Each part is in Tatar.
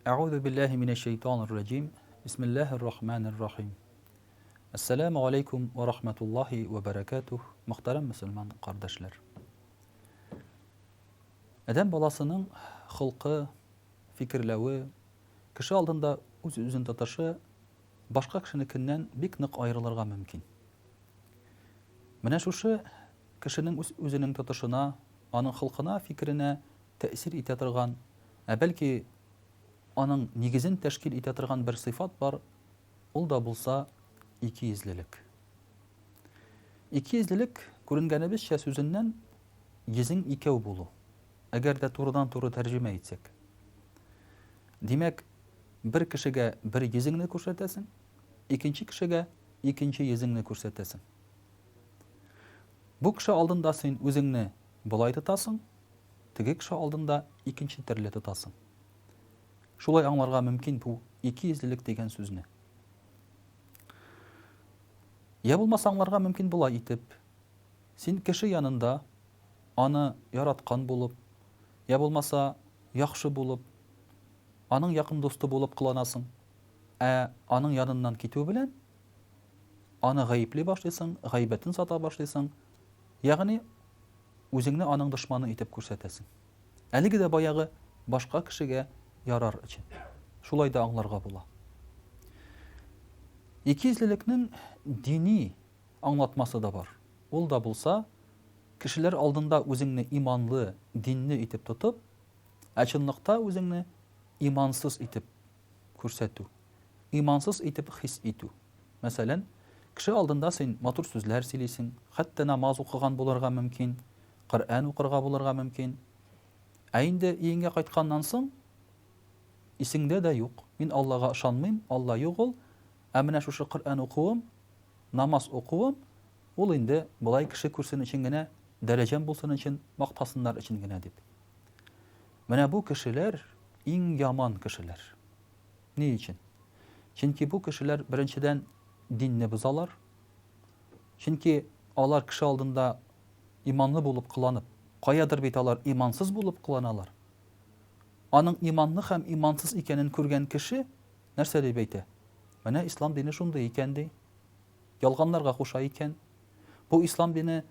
Әгъузу биллаһи минәш шәйтанир раҗим. Бисмиллаһир рахманир рахим. Ассаламу алейкум ва рахматуллахи ва баракатуһ. Мөхтәрәм мусульман кардәшләр. Адәм баласының хылкы, фикерләве, кеше алдында үз-үзен тотышы башка кешенекеннән бик нык аерылырга мөмкин. Менә шушы Кешенең үз-үзенең тотышына, аның холкына, фикеренә тәэсир итә торган, ә бәлки аның нигезен тәшкил итә торган бер сыйфат бар, ул да булса икейөзлелек. Икейөзлелек, күренгәнебезчә сүзеннән, йөзең икәү булу, әгәр дә турыдан-туры тәрҗемә итсәк. Димәк, бер кешегә бер йөзеңне күрсәтәсең, икенче кешегә икенче йөзеңне күрсәтәсең. Бу кеше алдында син үзеңне болай тотасың, теге кеше алдында икенче төрле тотасың. Шулай аңларга мөмкин бу икейөзлелек дигән сүзне. Я булмаса аңларга мөмкин болай итеп, син кеше янында аны яраткан булып, я булмаса яхшы булып, аның якын дусты булып кыланасың, ә аның яныннан китү белән, аны гаепли башлыйсың, гайбәтен сата башлыйсың. Ягъни үзеңне аның дошманы итеп күрсәтәсең. Әлеге дә баягы башка кешегә ярар өчен. Шулай да аңларга була. Икейөзлелекнең дини аңлатмасы да бар. Ул да булса, кешеләр алдында үзеңне иманлы, динле итеп тотып, ә чынлыкта үзеңне имансыз итеп күрсәтү, имансыз итеп хис итү. Мәсәлән, кеше алдында син матур сүзләр сөйлисең, хәтта намаз укыган булырга мөмкин, Коръән укырга булырга мөмкин. Ә инде өеңә кайтканнан соң, исеңдә дә юк, мин Аллага ышанмыйм, Алла юк ул, ә менә шушы Коръән укуым, намаз укуым, ул инде болай кеше күрсен өчен генә, дәрәҗәм булсын өчен, мактасыннар өчен генә дип. Менә бу кешеләр иң яман кешеләр. Ни өчен? Чөнки бу кешеләр, беренчедән, динне бозалар. Чөнки алар кеше алдында иманлы булып кыланып, каядыр бит алар имансыз булып кыланалар. Аның иманлы һәм имансыз икәнен күргән кеше нәрсә дип әйтә? Менә ислам дине шундый икән, ди. Ялганларга куша икән. Бу ислам дине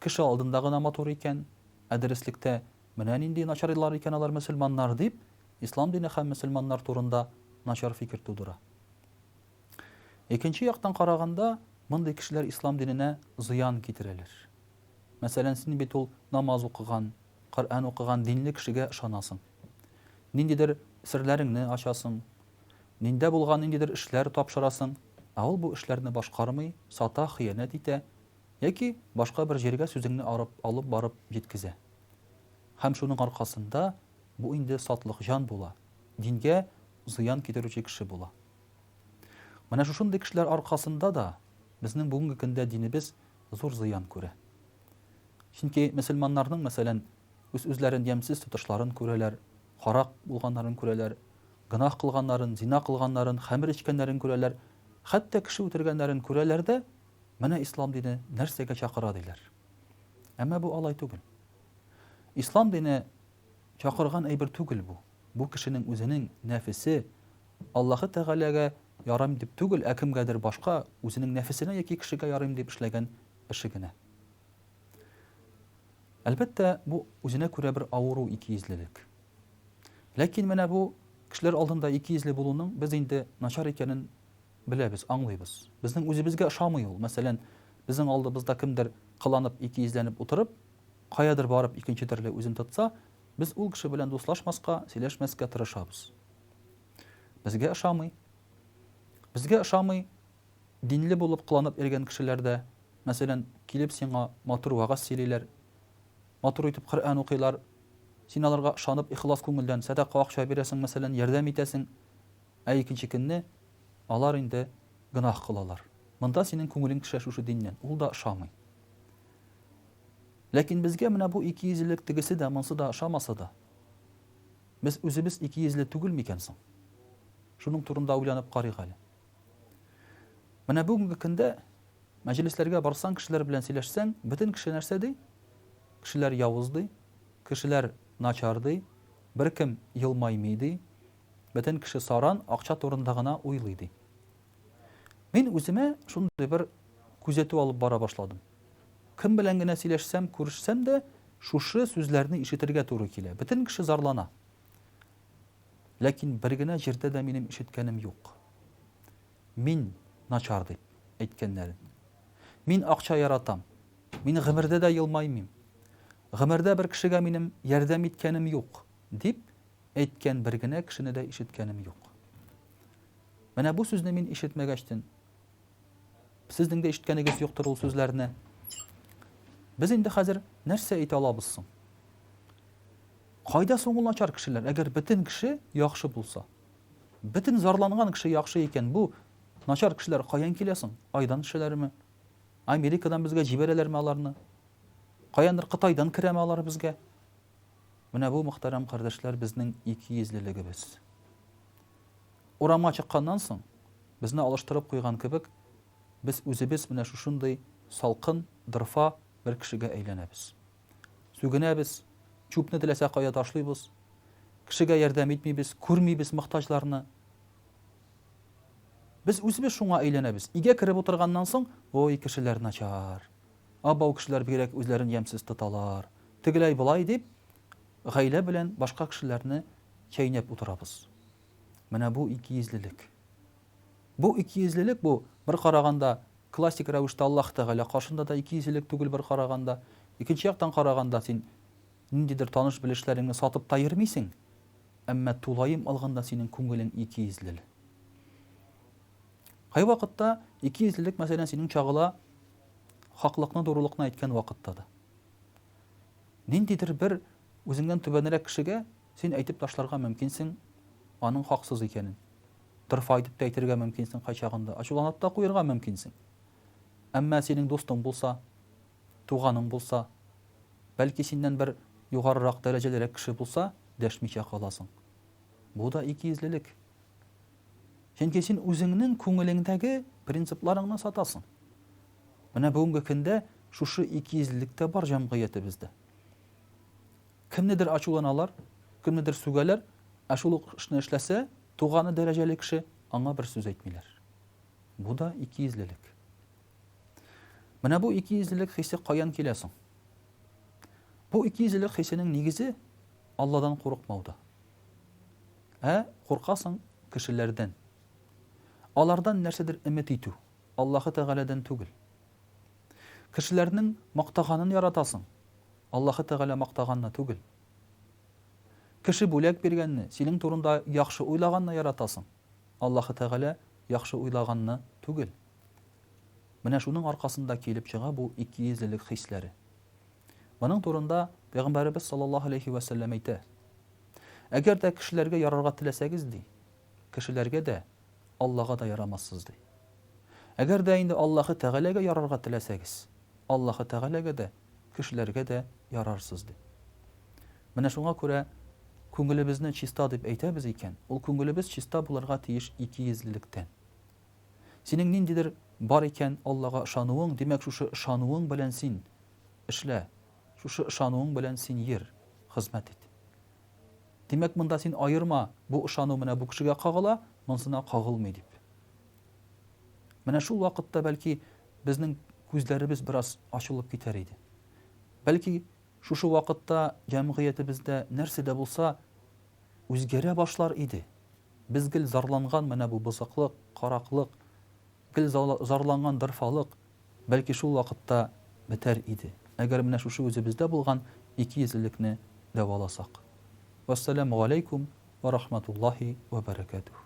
кеше алдында гына матур икән, ә дөреслектә Менә нинди начарлар икән алар мөселманнар, дип, ислам дине һәм мөселманнар турында начар фикер тудыра. Икенче яктан караганда, мондый кешеләр ислам диненә зыян китерәләр. Мәсәлән, син бит ул намаз укыган, Коръән укыган динле кешегә ышанасың. Ниндидер серләреңне ачасың, диндә булган ниндидер эшләр тапшырасың, ә ул бу эшләрне башкармый, сата, хыянәт итә, яки башка бер җиргә сүзеңне арып алып барып җиткезә. Һәм шуның аркасында бу инде сатлык җан була, дингә зыян китерүче кеше була. Менә шушындый кешеләр аркасында да безнең бүгенге көндә динебез зур зыян күрә. Чөнки мөселманнарның, мәсәлән, үз-үзләрен ямьсез тотышларын күрәләр, карак булганнарын күрәләр, гөнаһ кылганнарын, зина кылганнарын, хәмер эчкәннәрен күрәләр, хәтта кеше үтергәннәрен күрәләр дә Менә ислам дине нәрсәгә чакыра диләр. Әмма бу алай түгел. Ислам дине чакырган әйбер түгел бу. Бу кешенең үзенең нәфесе Аллаһы Тәгаләгә ярыйм дип түгел, ә кемгәдер башка, үзенең нәфесенә яки кешегә ярыйм дип эшләгән эше генә. Әлбәттә, бу үзенә күрә бер авыру, икейөзлелек. Ләкин менә бу кешеләр алдында икейөзле булуның без инде начар икәнен Беләбез, аңлыйбыз. Безнең үзебезгә ошамый ул. Мәсәлән, безнең алдыбызда кемдер кыланып, икейөзләнеп утырып, каядыр барып икенче төрле үзен тотса, без ул кеше белән дуслашмаска, сөйләшмәскә тырышабыз. Безгә ошамый. Безгә ошамый динле булып кыланып йөргән кешеләр дә. Мәсәлән, килеп сиңа матур вәгазь сөйлиләр, матур итеп Коръән укыйлар, син аларга ышанып, ихлас күңелдән сәдака акча бирәсең, мәсәлән, ярдәм итәсең, Ә икенче көнне алар инде гөнаһ кылалар. Монда синең күңелең төшә шушы диннән, ул да ошамый. Ләкин безгә менә бу икейөзлелек тегесе дә, монсы да ошамаса да, без үзебез икейөзле түгел микән соң? Шуның турында уйланып карыйк әле. Менә бүгенге көндә мәҗлесләргә барсаң, кешеләр белән сөйләшсәң, бөтен кеше нәрсә ди? Кешеләр явыз ди, кешеләр начар ди, беркем елмаймый ди, Бөтен кеше саран акча турында гына уйлый, ди. Мин үземә шундый бер күзәтү алып бара башладым. Кем белән генә сөйләшсәм, күрешсәм дә, шушы сүзләрне ишетергә туры килә. Бөтен кеше зарлана. Ләкин бер генә җирдә дә минем ишеткәнем юк. Мин начар дип әйткәннәрен. Мин акча яратам. Мин гомердә дә елмаймыйм. Гомердә бер кешегә минем ярдәм иткәнем юк, дип әйткән бер генә кешене дә ишеткәнем юк. Менә бу сүзне мин ишетмәгәчтен, сезнең дә ишеткәнегез юктыр ул сүзләрне. Без инде хәзер нәрсә әйтә алабыз соң? Кайда соң ул начар кешеләр? Әгәр бөтен кеше яхшы булса, бөтен зарланган кеше яхшы икән, бу начар кешеләр каян килә соң? Айдан төшәләрме? Америкадан безгә җибәрәләрме аларны? Каяндыр Кытайдан керәме алар безгә? Менә бу, мөхтәрәм кардәшләр, безнең икейөзлелегебез. Урамга чыкканнан соң, безне алыштырып куйган кебек, без үзебез менә шушындый салкын, дырфа бер кешегә әйләнәбез. Сүгенәбез, чүпне теләсә кая ташлыйбыз, кешегә ярдәм итмибез, күрмибез мохтаҗларны. Без үзебез шуңа әйләнәбез. Өйгә кереп утырганнан соң, ой, кешеләр начар. Абау кешеләр бигрәк үзләрен ямьсез тоталар. Тегеләй-болай дип, гаилә белән башка кешеләрне чәйнәп утырабыз. Менә бу икейөзлелек. Бу икейөзлелек бу, бер караганда, классик рәвештә Аллаһ Тәгалә каршында да икейөзлелек түгел бер караганда. Икенче яктан караганда, син ниндидер таныш-белешләреңне сатып та йөрмисең, әмма тулаем алганда синең күңелең икейөзлел. Кайвакытта икейөзлелек, мәсәлән, синең чагыла Хаклыкны дурылыкны әйткән вакытта да. Ниндидер бер үзеңнән түбәнрәк кешегә син әйтеп ташларга мөмкинсең аның хаксыз икәнен. Дырфа итеп тә әйтергә мөмкинсең кайчагында, ачуланып та куерга мөмкинсең. Әмма синең дустың булса, туганың булса, бәлки синнән бер югарырак дәрәҗәлерәк кеше булса, дәшмичә каласың. Бу да икейөзлелек. Чөнки син үзеңнең күңелеңдәге принципларыңны сатасың. Менә бүгенге көндә шушы икейөзлелек тә бар җәмгыятебездә. Кемнедер ачуланалар, кемнедер сүгәләр, ә шул ук эшне эшләсә, туганы дәрәҗәле кеше, аңа бер сүз әйтмиләр. Бу да икейөзлелек. Менә бу икейөзлелек хисе каян килә соң? Бу икейөзлелек хисенең нигезе Алладан курыкмауда. Ә куркасың кешеләрдән. Алардан нәрсәдер өмет итү, Аллаһы Тәгаләдән түгел. Кешеләрнең мактаганын яратасың, Аллаһы Тәгалә мактаганны түгел. Кеше бүләк биргәнне, синең турында яхшы уйлаганны яратасың, Аллаһы Тәгалә яхшы уйлаганны түгел. Менә шуның аркасында килеп чыга бу икейөзлелек хисләре. Моның турында Пәйгамбәребез саллаллаһу алейһи вә сәлләм әйтә. Әгәр дә кешеләргә ярарга теләсәгез, ди, кешеләргә дә, Аллага да ярамассыз, ди. Әгәр дә инде Аллаһы Тәгаләгә ярарга теләсәгез, Аллаһы Тәгаләгә дә, кешеләргә дә ярарсыз, ди. Менә шуңа күрә күңелебезне чиста дип әйтәбез икән, ул күңелебез чиста булырга тиеш икейөзлелектән. Синең ниндидер бар икән Аллага ышануың, димәк, шушы ышануың белән син эшлә, Шушы ышануың белән син йөр, хезмәт ит. Димәк, монда син аерма, бу ышану менә бу кешегә кагыла, монсына кагылмый дип. Менә шул вакытта, бәлки, безнең күзләребез бераз ачылып китәр иде. Бәлки, шушы вакытта җәмгыятебездә нәрсә дә булса үзгәрә башлар иде. Без гел зарланган менә бу бозыклык, караклык, Гел зарланган дорфалык, бәлки, шул вакытта бетәр иде, әгәр менә шушы үзебездә булган икейөзлелекне дәваласак. Вәссәламү галәйкүм вә рахматуллаһи вә бәрәкәтүһ.